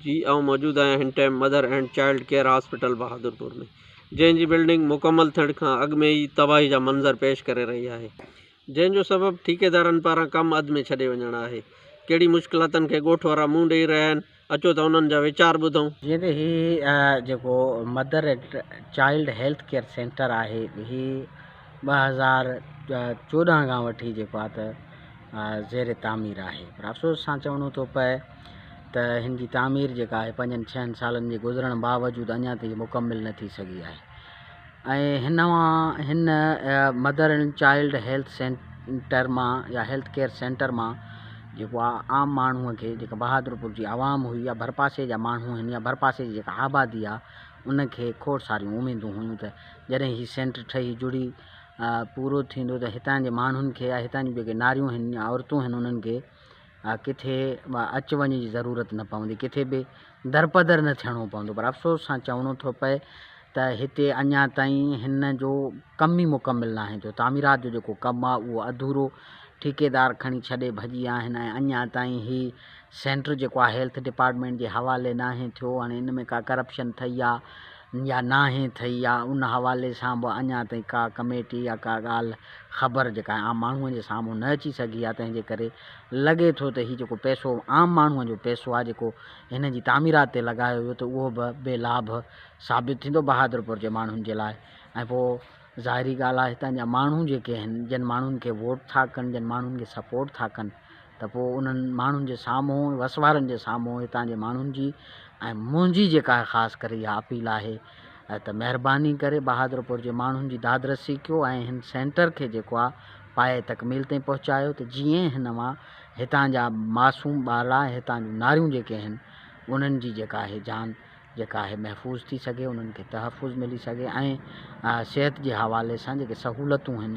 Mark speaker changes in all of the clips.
Speaker 1: جي آئون موجود آهيان هن time mother and child care hospital Bahadurpur ۾ جنهن جي بلڊنگ مڪمل ٿيڻ کان اڳ ۾ ئي تباهي جا منظر پيش ڪري رهي آهي جنهن جو سبب ٺيڪيدارن پاران ڪم اڌ ۾ ڇڏي وڃڻ آهي ڪهڙي مشڪلاتن کي ڳوٺ وارا منهن ڏئي رهيا آهن اچو ته انهن جا ويچار ٻڌون. جيئن ته هي
Speaker 2: جيڪو mother and child health care centre آهي هي ٻه هزار چوڏهن کان وٺي جيڪو آهي ته زير تعمير آهي پر افسوس سان چوڻو ٿو پئي ته هن جي تعمير جيڪا آهي پنجن ڇهن سالن جي گذرڻ باوجود اڃا تائين مڪمل نه ٿي سگهي آهي ۽ هن مان هن mother and child health centre مان يا هيلٿ ڪيئر سينٽر مان جيڪو آ عام ماڻهوء کي جيڪا بهادرپور جي عوام هئي يا ڀرپاسي جا ماڻهو هن يا ڀرپاسي جي جيڪا آبادي آهي ان کي کوڙ ساريون اميدون هيون ته جڏهن هي سينٽر ٺهي جڙي پورو ٿيندو ته هتان جي ماڻهن کي يا هتان جون جيڪي ناريون هن يا عورتون هن انهن کي ڪٿي اچ وڃ جي ضرورت نه پوندي ڪٿي به درپدر نه ٿيڻو پوندو پر افسوس سان چوڻو ٿو پئي ته هتي اڃا تائين هن جو ڪم ئي مڪمل ناهي ٿيو تعميرات جو جيڪو ڪم آهي اهو اڌورو ٺيڪيدار کڻي ڇڏي ڀڄي آهن ۽ اڃا تائين هي سينٽر جيڪو آهي هيلٿ ڊپارٽمينٽ جي حوالي ناهي ٿيو هاڻي ان ۾ ڪا ڪرپشن ٿئي آ يا ناهي ٿئي يا ان حوالي سان به اڃا تائين ڪا ڪميٽي يا ڪا ڳالهه خبر جيڪا عام ماڻهوء جي سامهون نه اچي سگهي آهي تنهن جي ڪري لڳي ٿو ته هي جيڪو پئسو عام ماڻهوء جو پئسو آهي جيڪو هن جي تعميرات تي لڳايو ويو ته اهو به بي لاڀ ثابت ٿيندو بهادرپور جي ماڻهن جي لاء ۽ پوء ظاهري ڳالهه آهي هتان جا ماڻهو جيڪي آهن جن ماڻهن کي ووٽ ٿا ڪن جن ماڻهن کي سپورٽ ٿا ڪن ته پوء انهن ماڻهن جي سامهون، وسوارن جي سامهون هتان جي ماڻهن جي ۽ منهنجي جيڪا خاص ڪري اها اپيل آهي ته مهرباني ڪري بهادرپور جي ماڻهن جي دادرسي ڪيو ۽ هن سينٽر کي جيڪو آهي پايه تڪميل تائين پهچايو ته جيئن هن مان هتان جا معصوم ٻارڙا ۽ هتان جون ناريون جيڪي آهن انهن جي جيڪا آهي جان جيڪا آهي محفوظ ٿي سگهي انهن کي تحفظ ملي سگهي ۽ صحت جي حوالي سان جيڪي سهولتون آهن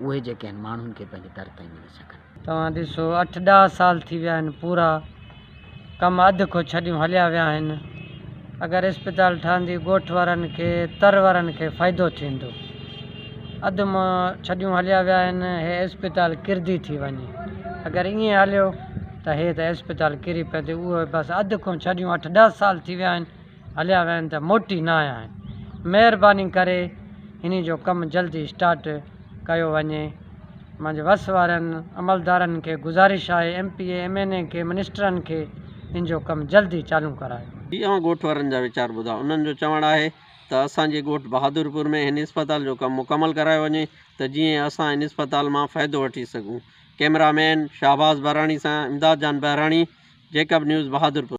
Speaker 2: اهي جيڪي آهن ماڻهن کي پنهنجي در تائين ملي سگهن. توهان ڏسو اٺ
Speaker 3: ڏهه سال ٿي ويا آهن پورا ڪم اڌ کان ڇڏيون هليا ويا آهن اگر اسپتال ٺهندي ڳوٺ وارن کي تر وارن کي فائدو ٿيندو اڌ مان ڇڏيون هليا ويا آهن هي اسپتال ڪرندي ٿي وڃي اگر ائين هليو ته هي ته اسپتال ڪري پئي ٿي اهو بس اڌ کون ڇڏيون اٺ ڏهه سال ٿي ويا آهن هليا ويا آهن ته موٽي نه آيا آهن مهرباني ڪري انهي جو ڪم جلدي اسٽارٽ ڪيو وڃي مانجي وس وارن عملدارن کي گذارش آهي M P A M N A کي منسٽرن کي ان جو ڪم جلدي چالون ڪرايو وڃي. جي اوهان ڳوٺ وارن جا
Speaker 1: ويچار ٻڌا انهن جو چوڻ آهي ته اسان جي ڳوٺ بهادرپور ۾ هن اسپتال جو ڪم مڪمل ڪرايو وڃي ته جيئن اسان هن اسپتال مان فائدو وٺي سگهون ڪيمرا مين شهباز بهراڻي سان امداد جان بهراڻي، جيڪب نيوز، بهادرپور.